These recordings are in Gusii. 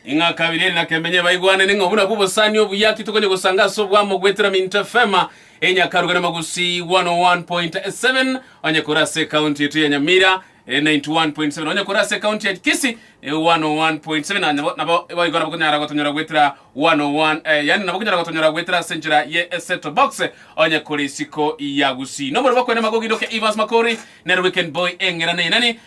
Ing'a kabere eri na kemenye baigwanane ng'a obo nabwo obosani obuya aki tokonya gosanga ase obwamo goetera Mint FM e Nyakaruga na Magusii 101.7 onye kore ase ekaunti yaito ya Nyamira e 91.7 onye kore ase ekaunti ya Kisii e 101.7 na nabo nabo boigo nabo konyara gotonyora goetera 101 eh, yani nabo konyara gotonyora goetera ase enchera ye Eseto Box onye kore isiko ya Gusii. Nomorobokwe na magogi ndoke Evans Makori nere Weekend Boy eng'erane enani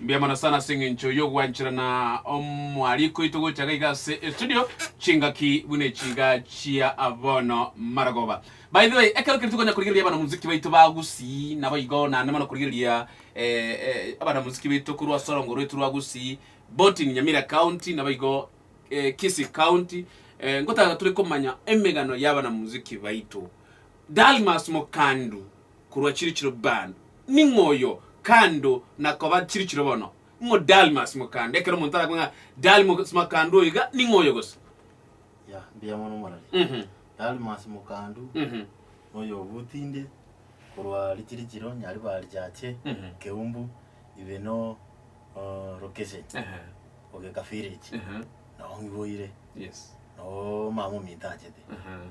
Mbuya mono sana ase eng'encho y'ogwancherana omwariko oito gocha iga iga ase estudio, chingaki buna echi iga chia bono marogoba. By the way, ekero keria tokonya korigereria abanamuziki baito ba Gusii, naboigo naende mono korigereria abanamuziki baito korwa ase orongo rwaito rwa Gusii, both in Nyamira County naboigo Kisii County, ngotaka tore komanya emegano y'abanamuziki baito. Dalmas Mokandu, korwa chirichiro bando, ning'o oyo kando na koba chirichiro bono? Ning'o Dalmas Mokando? Ekero omonto arakwe ng'a Dalmas Mokando oyo iga, ning'o oyo gose? Ya, mbuya mono morari. Mhm. Dalmas Mokando, Mhm. noyo obutinde korwa richirichiro Nyaribari Chache, Mhm. Keumbu, ibe no o, Rokeshe, Ehe. Ogeka Village. Ehe. Nao ng'iboire, Yes. nao omama ominto achete. Ehe.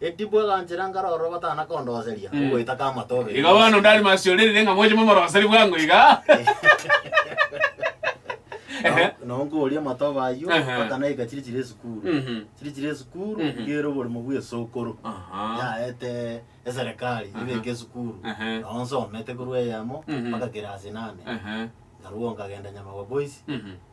Edibu aganchera nkarora obatana kondoseria ogoeta k'amato abere. Igo bono onde are masi orire ng'a moche momoroseri bwango iga. Ehe. Nao- Nao nkoria amato bayio Ehe. mpaka naika chiri chire esukuru. Mhm. Chiri chire esukuru Mhm. iga ere oboremo bwa esokoro. Aha. Yaete eserekari Aha. ebeke esukuru. Ehe. Nao nsomete korwa eyemo Mhm. mpaka kirasi inane. Ehe. Naruo nkagenda Nyamagwa Boys Mhm.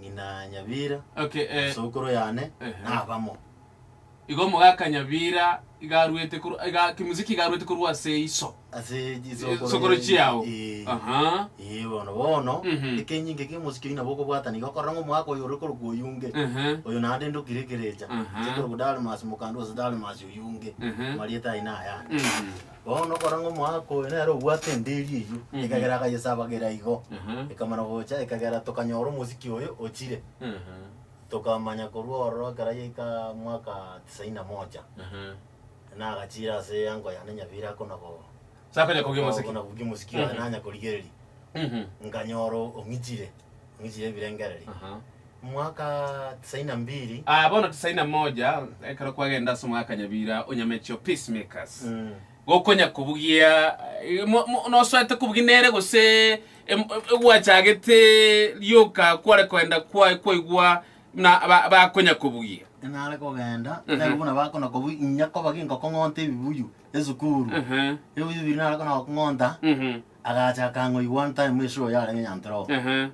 ng'ina Nyabira, Okay, eh, nasokoro yane, Ehe. nabamo. igo omogaka Nyabira iga arwete korwa, iga Kimuziki iga arwete korwa ase iso. Ase chisokoro Chisokoro ye- chiao. eh, Aha. eh, bono bono, Mhm. ekenyinge kia omosike oyio nabo okobwata nigo okorora ng'a omogaka oyo ore korokwa oyonge, Ehe. oyo naende inde okire ekerecha, Aha. inche korokwa Dalmas, mokandu ase Dalmas oyonge, Ehe. amarieta aye nayande. Mhm. Bono okora ng'a omoaka oyo nere obwate endeeri eyio, Mhm. ekagera akayesabageria igo, Aha. ekamana gocha, ekagera tokanyora omosiki oyo ochire, Aha. tokamanya korwa ororo ekero yaika mwaka tisaini na moja, Aha. nagachire ase uncle yane Nyabira akona ko- Sakonya kogia mosiki. akona kobugia omosiki oye, Mhm. nanya korigereria, Mhm. nkanyora ong'ichire. Miji y'ebirengererio, mwaka tisaini na mbiri. Aa bono tisaini na moja, ekero kwagenda ase omogaka Nyabira o Nyamechio, Peace Makers, gokonya kobugia nosoete kobugia nere gose gwachagete rioka kware koenda kwaye kwaigwa buna bakonya kobugia. Nare kogenda nere buna bakona kobugia inye koba ginkokong'onta ebibuyu esukuru. Ebibuyu biria nare kona gokong'onta. Agacha akang'wa igwa time ase oyo arenge Nyantoroo. Ehe.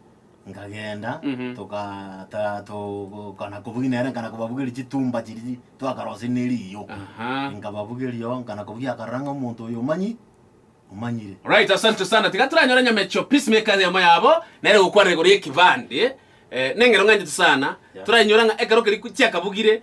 Nkagenda, Mhm. toka ta- to- kana kobugi nere nkana kobabugeria chitumba chiria twakarosia ne riiyo. Aha. Nkababugeria oo, nkana kobugia akarora ng'a omonto oyo omanyi, omanyire. Alright, asante sana. Tiga toranyore Nyamecho Peacemaker ase yamo yabo, nere gokwana igoro y'ekebande. Eh, neng'eno ng'anchete sana. Yeah. Torainyora ng'a ekero keria chiakabugire,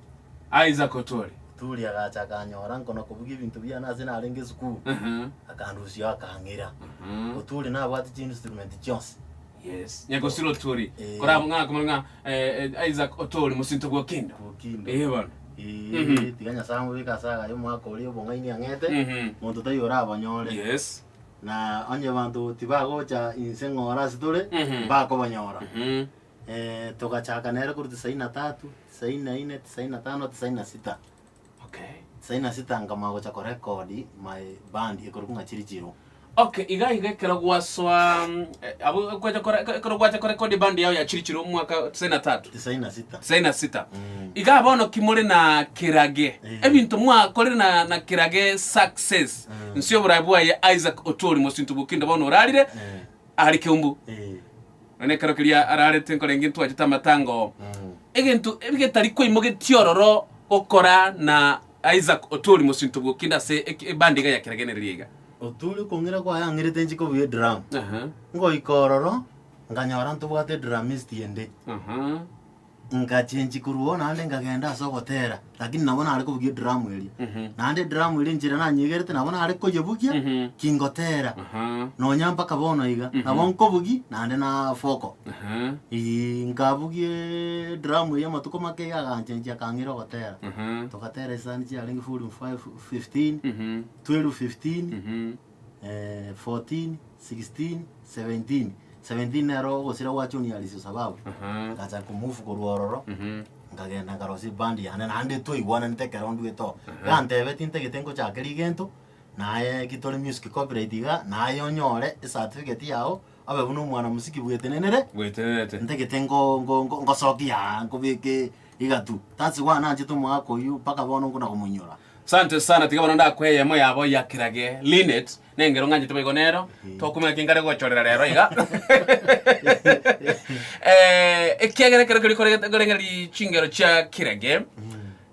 Isaac otore. Turi agacha akanyora nkona kobugia ebinto biane ase narenge esukuru, Ehe. akandusia akang'ira. Mhm. Oturi nabwate chiinstrument chionsi. Yes. Nyakosiro oturi. Eh. Korabwo ng'a komorwa ng'a eh, eh, Isaac otore mosinto bw'okindo. Bw'okindo. Eh, bono. Eeh, Mhm. tiga Nyasae amobeke ase agaye omwaka oria obong'aini ang'ete, Mhm. monto taiyo orabonyore. Yes. Na onye banto tibagocha inse ng'ore ase tore, Mhm. mbakobanyora. Mhm. togachaka nere korwa tisaini na tatu, tisaini na inne, tisaini na tano, tisaini na sita. Okay. Tisaini na sita nkamanya gocha korecord my band ekorokwa ng'a Chirichiro. Okay, iga iga ekero gwasoa mm, eh, abo gwacha kore- eke- ekero gwacha korekodi band yao ya Chirichiro omwaka tisaini na tatu Tisaini na sita. tisaini na sita Mm. iga bono ki more na kirage Eh. ebinto mwakorire na, na kirage success Mm. nsi oborai bwaye Isaac Otuori mosinto bokinde bono orarire Eh. are keumbu, nonya ekero keria ararete nkorenge ntwachete amatango, egento getari kwaimogetie ororo gokora na Isaac Otori mosinto bwokinde ase eke- ebandi iga ya keregeneri iga. Oturi okong'ira kwayang'irete nchiko buya edrum. Aha, Ngoika ororo, nkanyora ntobwate drummist ende. aha. Ngachengi korwa oo naende nkagenda ase ogotera, lakini nabo nare kobugia ediramu eria. Naende ediramu eria enchera nanyegerete nabo nare koyebugia Mhm. kingotera, Aha. nonya mpaka bono iga. Nabo nkobugia naende nafoko. Aha. Eeh, nkabugia ediramu eria amatuko make iga aganchengi akang'ira ogotera. Aha. Togatera esani chiarenge four in five, fifteen, Mhm. twelve fifteen, Mhm. eh, 14, 16, 17. 17 nero ogosira gwa John Alice Osababu. Aha. Ngacha kumove korwa ororo, Mhm. nkagenda nkarosia ebandi yane, naende twaigwananete ekero ndue to. Aha. Gantebe tintagete nkochakera egento, naye ki tore music copyright iga, naye onyore ecertificate yago, obe buna omwana mosiki bwetenenere, Bwetenerete. ntagete ngo- ngo- ngo- ngosokia aa, nkobeke iga tu. That's why nanchete omogaka oyio, mpaka bono nkona komoinyora. Sante sana, tiga bono ndakwe eyemo yabo ya kirage Linet, nengero ng'anchete boigo nero, tokumenya ki nkare gogochorera rero iga. Eh, ekiagera ekero keria koregete- korenge ri- chingero chia kirage,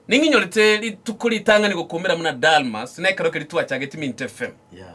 ning'inyorete rituko ritang'ani gokumera buna Dalmas, na ekero keria twachageti Mint FM. Yeah.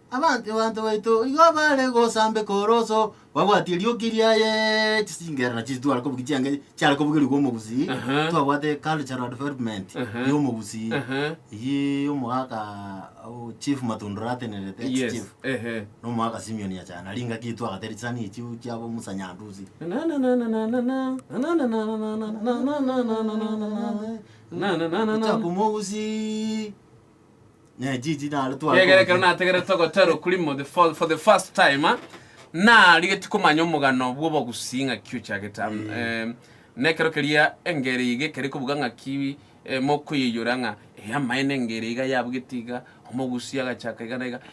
Abanto baito igo bare gosambeka oroso babwatie erioki riaye chisingera nachio chitware kobugia chianga chiare kobogerigwa omogusii Ehe. twabwate cultural development Ehe. ya omogusii Ehe. eyio omogaka o chief matundura atenerete ex Yes. chief Ehe. na omogaka simion yachana aria engaki eyio twagatera chisani echio chiabo musa nyandusi gochaka omogusii Ne chichi naro tware Gegerekero kobuchia. nategerete ogotera okurimo the fo- for the first time ah, narigeti komanya omogano bw'obogusi ng'aki ochagete am- em, na ekero keria engere iga ekere kobuga ng'aki eh, mokoyeiyora ng'a eh, amaene engere iga yabugete iga omogusi agachaka iga na iga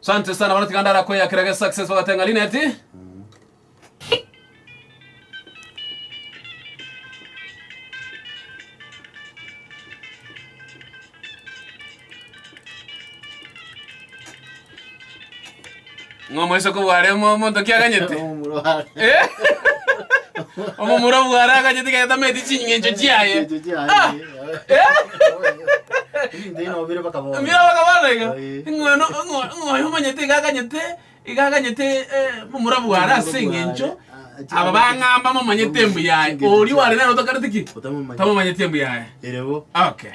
Sante sana bana tiganda ara koya kerage success bagate ng'a Lineti. Ng'a moise kobware mo- monto ki aganyete. Omorware. Eh? Omomura bware aganyete gaetameti ching'encho chiaye. Ching'encho chiaye. Ah! Ebinto bino bire mpaka bono. Mbira bakabana iga Eh. ng'oyo no- ng'o- ng'oyo omanyete iga aganyete iga aganyete eh, omurabu ware ase Omurabu ware, eng'encho ah, chingaki- aba bang'amba momanyete Momanyete embuyaye chingaki oria chiao. ware nere otokarete ki Otamomanyete. tamomanyete embuyaye Ere bo. okay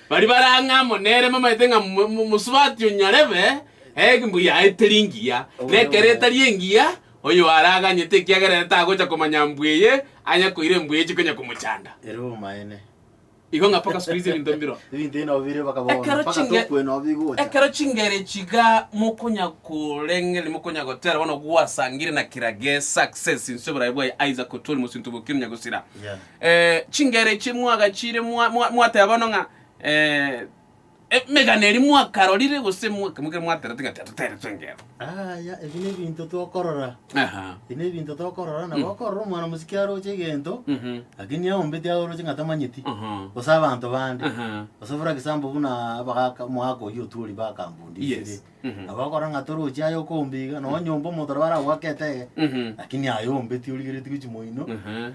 Baria bare ang'e amo nere bamaete ng'a mosubati o nyarebe egimbu yaete ringiya, na ekero etari engiya, oyo are aganyete, ekiagera ere tagocha komanya mbu eye anya koira embu eye chikonya komochanda. Igo ng'a mpaka siku hizi ebinto mbiro. Ekero chingere chiga mokonya korengereria mokonya gotera bono gwasangire na kira ge success inse oborai bwaye Isaac Otuori mosinto bokire onya gosira. Chingero echi mwagachiire mwateba bono ng'a emegano eria mwakarorire gose mwakemogire mwaterete ng'a tatoteretwe engero. Aya, ebi nebinto tokorora, Aha. ebi nebinto tokorora, nabo okorora omwana mosike aroche egento, Mhm. lakini aombeti aye oroche ng'a tamanyeti, Aha. gose abanto bande, Aha. gose for example buna abagaka omogaka oyio otuorire ba Yes. Kambundisire, Agokora ng'a toroche aye okombiga, nonye nyomba omonto nabo aragoaka etege, lakini aye ombeti origeretie gochia moino,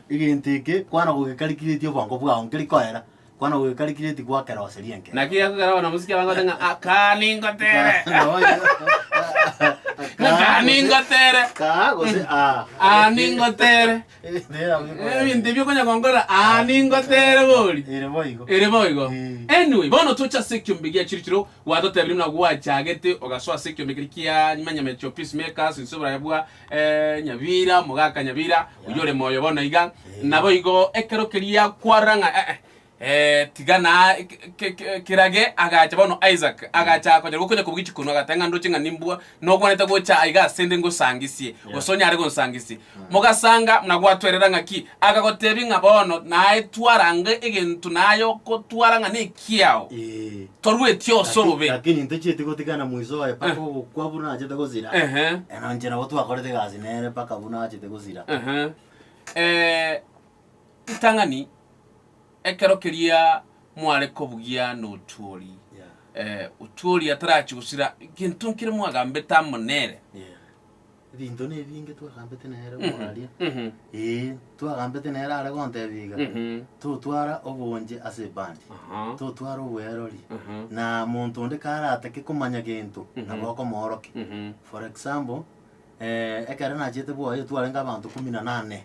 egento eke kwana gogekarikiretie obongo bwao nkeri koera, kwana gogekarikiretie goakera gose rienke. Naki gekogera bono mosike abange bagote ng'a, Kaa ningotere! Kaa ningotere! Kaa gose aa. Aa ningotere! Ebinto ebi okonya gonkora aa ningotere bori. Ere boigo. Anyway, bono toche ase ekiombe gia chirichiro. Gwatotebirie buna gwachagete ogasoa ase ekiombe kere kia Manyamechi of Peace Makers inse oboraya bwa Nyabira, omogaka Nyabira, oyore moyo bono iga. Naboigo ekero keria kwarora ng'a eh-eh, Ee, tiga na kirage. Agacha bono Isaac, agacha akonyeroka okonya kobua echi konu, agateba ng'a ndoche ng'a nimbua nogwanete gocha aiga ase nde ngosangisie, gose onyare gonsangisie. Mogasanga buna gwatwerera ng'a ki, akagotebia ng'a bono naye twarange egento naye okotwara ng'a nekiao, Ee. torweti ose Laki- obobe. Lakini ntochieti gotigana mwiso oye mpaka ogokwa buna achete gosira. Ehe. Eno inche nabo twakorete egasi nere mpaka buna achete gosira. Ehe. Eh, Ritang'ani, Ekero keria mware kobugia notuori, otuori atarachie gosira egento nkere mwagambete amo nere. Ebinto nebinge twagambete nere mwaria, ee, twagambete nere are gontebia iga, totwara obonche ase ebandi, totwara obwerori, na monto onde karatake komanya gento, nabo okomoorokia. For example, ekero nachiete bwoye twarenge abanto kumi na nane.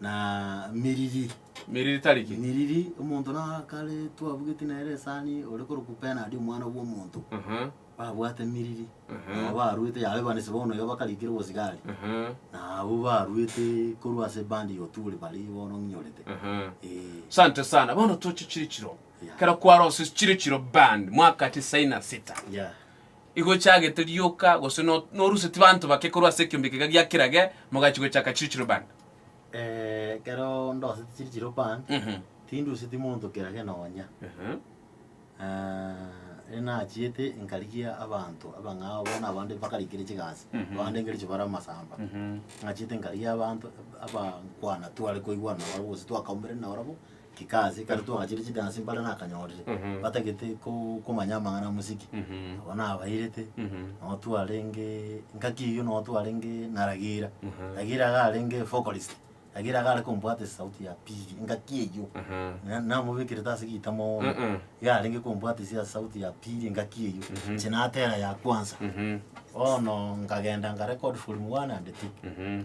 na miriri. Miriri tari ki? Miriri, omonto na kare twabugeti nere esani, ore korokwa Bernard omwana bwa omonto, Mhm, babwate miriri. Mhm. Nabo baruete, yare bande ase bono iga bakarikire obosigari. mhm, Na abwo baruete korwa ase bande ya oturi bare bono ng'inyorete. mhm. Eh, Sante sana. Bono toche chire chiro. Yeah. Kero kwarose chire chiro band mwaka tisaini na sita. yeah. Igo chagete rioka gose no- noruseti banto bake korwa ase ekiombe kega giakerage mogachi gochaka chire chiro band. ekero ndoseti chiri chiropa, Mhm. tinduseti monto kera gena onya. Aha. Rende nachiete nkarigia abanto abang'ao bono abande bakarikire chigasi, Mhm. abande nkercho bare amasamba. Mhm. Nachiete nkarigia abanto abakwana tware koigwana nabo gose twakaumire nabarabwo, Chikaasi, kare twagachire chidansi mbare nakanyorire, Mhm. batagete ko- komanya amang'ana amosike. Mhm. Nabo nabairete, Mhm. nabo twarenge engaki eyio nabo twarenge na Ragira. Mhm. Ragira iga arenge vocalist, Ragira iga are kombwata esauti ya pili, engaki eyio. Aha. Na- namobekerete ase gita mono, Uh-uh. iga arenge kombwata ase esauti ya pili engaki eyio, Mhm. inche natera ya kwansa. Mhm. Bono nkagenda nka record volume one and two. Mhm.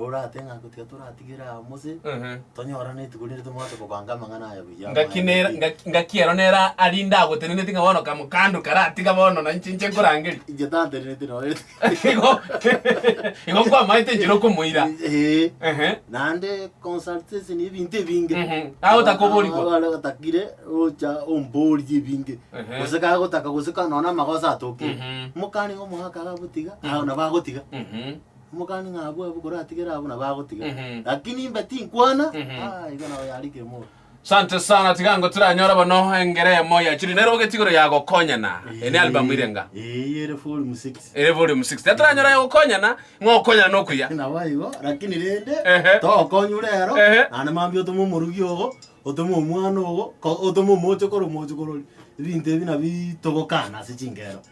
Oratehe ng'a gotiga toratigere aa Mose, Ehe. tonyorane etuko rinde tomoche kobanga amang'ana aya buya. Ngaki Amaene nera- David. ngaki- ngaki ero nera aria ndagoteneneti ng'a bono kamokando karatiga bono na inche inche nkorangeria. Inche tantenereti noyo. Igo igo nkwamaete enchera okomoira. Ee. Ehe. Naende consultation ya ebinto ebinge. Mhm. Agotaka oborigwa. Abare batakire gocha omborie ebinge. Ehe. Gose kagotaka gose ka nonya amagoso atokeire. Mhm. Mokane ng'a omoaka iga botiga, aa nabo agotiga. Mhm. Omokani ng'a abwo abwo koratigere abwo nabo agotiga. Mhm. Lakini imbe tinkwana. Mhm. Ah, igo nabo yarikire moro. Sante sana tiga ngo tiranyora bono engere emo ya chiri nero bogeti igoro ya gokonyana ene album ire nga Eh, yere volume 6. ere volume 6 tataranyora ya gokonyana ng'a okonyana nokuya Nabo igo, lakini rende Ehe. togokonyure ero, Ehe. naende mambia otome omorugi ogo, otome omwana ogo, ko- otome omoche kore omoche kore ori. Ebinto ebi nabi togokana ase chingero.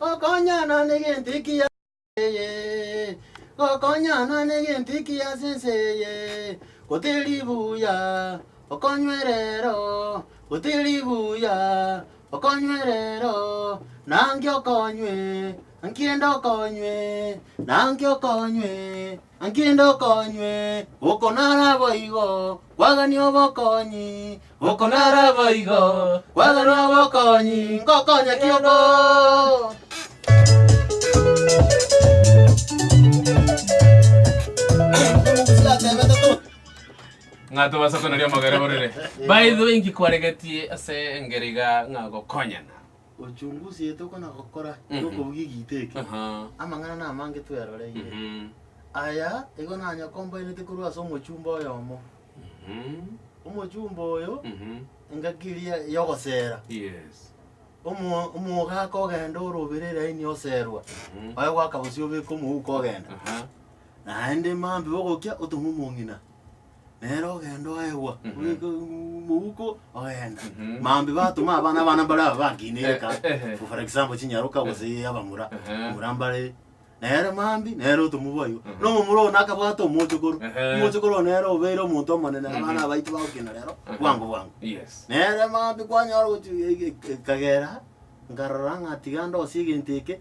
Gokonyana negento eki ase ense eye, gokonyana negento eki ase ense eye, goti ribuya, okonywe rero, goti ribuya, okonywe rero, na ngio okonywe, Naki rende okonywe, na nki okonywe? Naki rende okonywe, oko naraboigo, kwagani obokonyi, oko naraboigo, kwagani obokonyi, ngokonya ki oko? Omogusi atebete to. ng'a tobasa konaria amagare borere. By the way, inki kwaregetie ase engero iga ng'a gokonyana? Uchunguzi ye tokona gokora Mhm. y'okobugia egiita eke, Aha. amang'ana namange tweroreire. Mhm. Aya igo nanya kombaenete korwa ase omochumba oyomo. Mhm. Omochumba oyo Mhm. engaki eria y'ogosera, Yes. omo- omogaka ogenda ore obere eraini oserwa, Mhm. oye gwaka bosio obeka omouko ogenda. Aha. Naende mambia ogokia otong'we omong'ina. nere ogenda oegwa, Mhm. ogeka uuumm mouko ogenda. Mhm. Maambia batoma abana abana mbare aba bakinire Eh, ekasi, eh, eh. for example chinyaroka gose abamura, Ehe. mura mbare nere maambia nere otomobua igo. Mhm. Na omomura one akabwata omochokoro, Ehe. omochokoro one nere obeire omonto omonene Mhm. abana abaito bagokina rero Ehe. bwango bwango. Yes. Nere maambia kwanyora gochia e- e- ekagera nkarora ng'a tiga ndosie egento eke,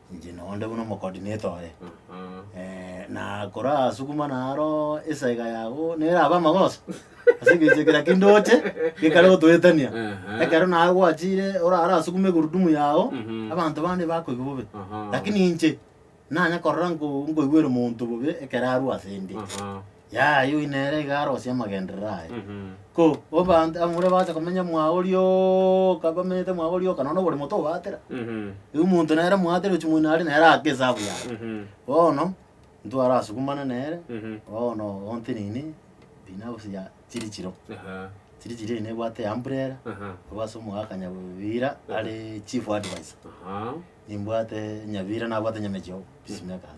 Inche nonde buna omokodineto oye. Eh, na korasukuma naro esaega yago nerabe amagoso ase ekecho ekera kindoche gekare gotoetania Aha. ekero naye gwachire orarasukume egurudumu yago Mhm. abanto bande bakoigwa bobe Aha. lakini inche nanya korora nko- nkoigwere omonto bobe ekero arwa ase inde Aha. Yaya oyio nere iga arosie amagenderero aye. Ko obanto abamura bacha komenya mwao rioka, bamenyete mwao rioka, nonya oborimo tobaatera. Igo omonto nere moatere ochi moino are nere aake esabu yaye. Bono, ntwarasukumane nere, bono oonte nini, bina gose ya chiri chiro. Chiri chiro eye nebwate ya umbrella, nigo ase omoa Kanyabira are chief adviser. Nimbwate Nyabira nabwate Nyamechiogo, peacemakers.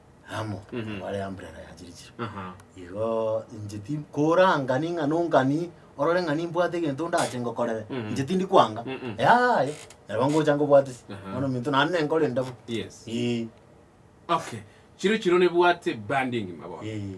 amo Mhm. bare umbrella ya chirichiri Aha. igo inche ti korangani ng'a nongani orore ng'a nimbwate egento ndache ngokorere Mhm. inche tindi kwanga Mhm. yaye nabo ngocha ngobwatisi Aha. bono minto naende nenkore ndabo Yes. Ii, Okay. Chiro chiro nebwate branding mabono. ii.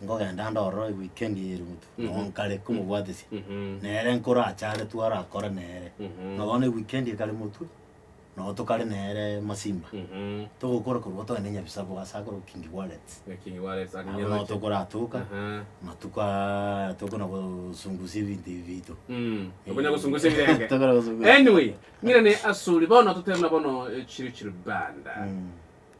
Nkogenda ndororo ewikendi eye Ruto, nabo nkare komobwatesia. Nere nkoracharetwe arakore nere. Buna bono ewikendi ekare motwe, nabo tokare nere Masimba. Togokora korwa togende Nyabisaku ase akorokwa King Wallets. Abwo nabo tokoratoka, amatuko aya tokona gosungusia ebinto ebi biaito. Tokonya gosungusia ebirenge. Tokona gosungusia. Anyway, ng'irane asore bono totebe buna bono chire chiribanda.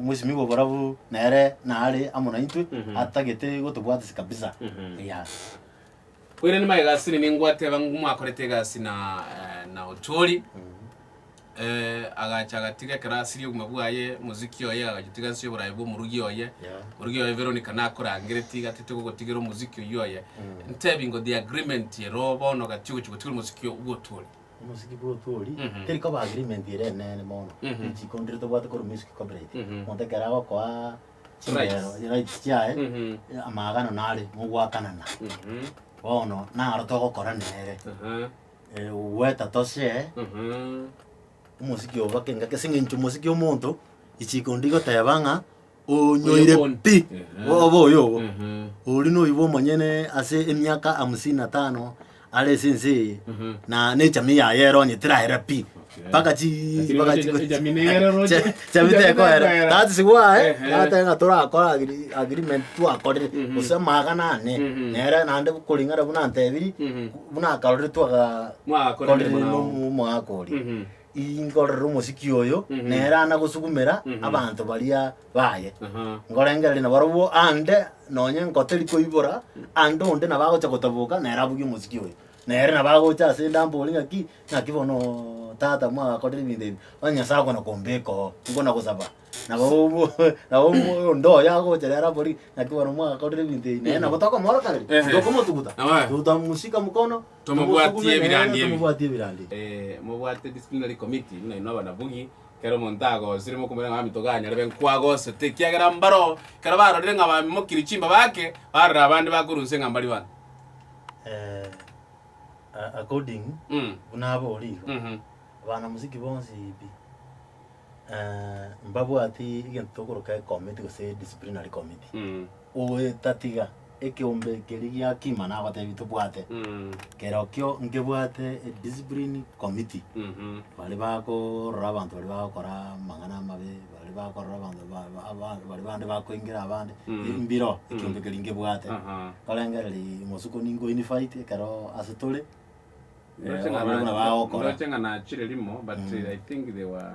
omosimigwa oborabu nere nare amo naintwe Mhm. atagete gotobwatisa kabisa Mhm. Eya. Koira nima egasi nini ngwateba ng'u mwakorete egasi na eh, na Ochori eh, agacha agatiga ekero asirie obogima bwaye moziki oye agachitiga nse y'oborabe bwa omorugi oye Yeah. omorugi oye Veronica nakorangereti gati togogotigera omoziki oywo oye Mm. ntebi ngo the agreement ero bono gati ogochi gotigera omoziki obwa Otuori Omosiki bw'otwe oria, teri koba agreement ere eneene bono, teri chikontri tobwate korwa music copyright, omonto ekero agokoa chingero, rights chiaye, amaagano nare, mogoakanana. Bono naro togokora nere, goeta toshare omosiki oboke ngaki, as'eng'encho omosiki omonto, chikontri goteba ng'a. Onyoire pi obo oyo obo. Oria noibwa omonyene ase emiaka hamsini na tano are ase ense eye na nechamii yaye ero onye tiraera pi mpaka chi Lakini mpaka wacha- chi- ejamii nere roche. Cha- chami Ejamii tekoera tekoera. that is why Ehe. natebe ng'a torakora agri- agreement twakorire gose amagana ane Mhm. nere naende koring'ana buna ntebiri Mhm. buna akarorire twaka Mwagakorire korire muna- nomu- omogaka oria Mhm. inkorere omosiki oyo Mhm. nere ana gosugumera Mhm. abanto baria baye Aha. ngorengereria nabarobwo ande nonye nkoteri koibora ande onde nabo agocha gotaboka nere abuge omosiki oyo nere nabo agocha ase inde ambore ng'aki ng'aki bono tata mwagakorire ebinto ebi onye nyasae okona kombeka oo nkona gosaba nabo obo nabo obo onde oyo agocha nere abori ng'aki bono mwagakorire ebinto ebi nere nabo tokomoroka rende Ehe. tokomotuguta Aye. totamusika mokono Tomobwatie Tomosugume nere, ebirandi ebi. tomobwatie ebirandi. Ee, mobwate disciplinary committee buna inwe abanabogi, kera omonto agosire mokomoira ng'a Mamito ganye arebe nkwagosete, ekiagera mbaro ekero barorire ng'a bamimokirie chimbaba ake, barora abande bakorunse ng'a mbari bana. Eh, a- according Mm. buna abore igo, Mhm. abanamosiki bonsi pi, eh, mbabwati egento tokoroka ecommittee gose disciplinary committee. Mm. Ogoetatiga ekeombe keria gia kima nagotebi tobwate kerokio nkebwate ediscipline committee baria bakorora abanto baria bagokora amang'ana amabe baria bakorora abanto ba ba aba baria bande bakoengera abande mbiro ekeombe keria nkebwate nkorengereria bosuku ninko unified ekero ase tore Ndoche ng'a na- ndo- ndoche ng'a nachire rimo but i think they were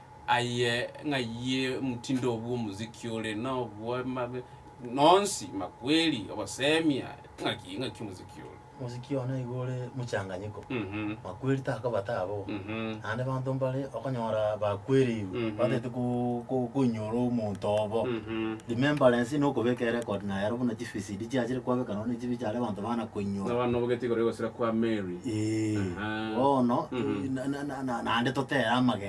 Aye ng'ayie omtindo obwo omoziki ore nobwema be nonsi, makweri, ogosemia, ng'aki ng'aki omoziki ore. Omoziki one nigo ore mochanganyiko, makweri takobate abwo, naende banto mbare okonyora bakwereirwe batagete koinyora omonto obo, remembrance na okobeka erecord naye aro buna chivisidi chiachire kwabeka nonye ne echibi chiare abanto bana koinyora. Abana obogete igoro egosira kwa Mary. Eeh, bono naende totere amagena.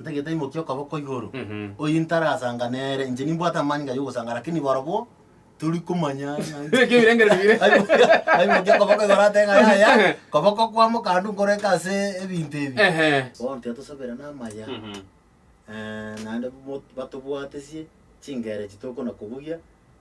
Ntagete imokia okoboko igoro, oyio ntarasanga nere, inche nimbwate amani ngaya ogosanga, lakini barobwo tori komanya ng'a Ekio birengereri bire. Aimokia- aimokia okoboko igoro ate ng'a yaya, koboko kwamo kando nkoreke ase ebinto ebi. Ehe. Bono tiga tosabera namaya, naende mo- batobwatesie chingera echi tokona kobugia.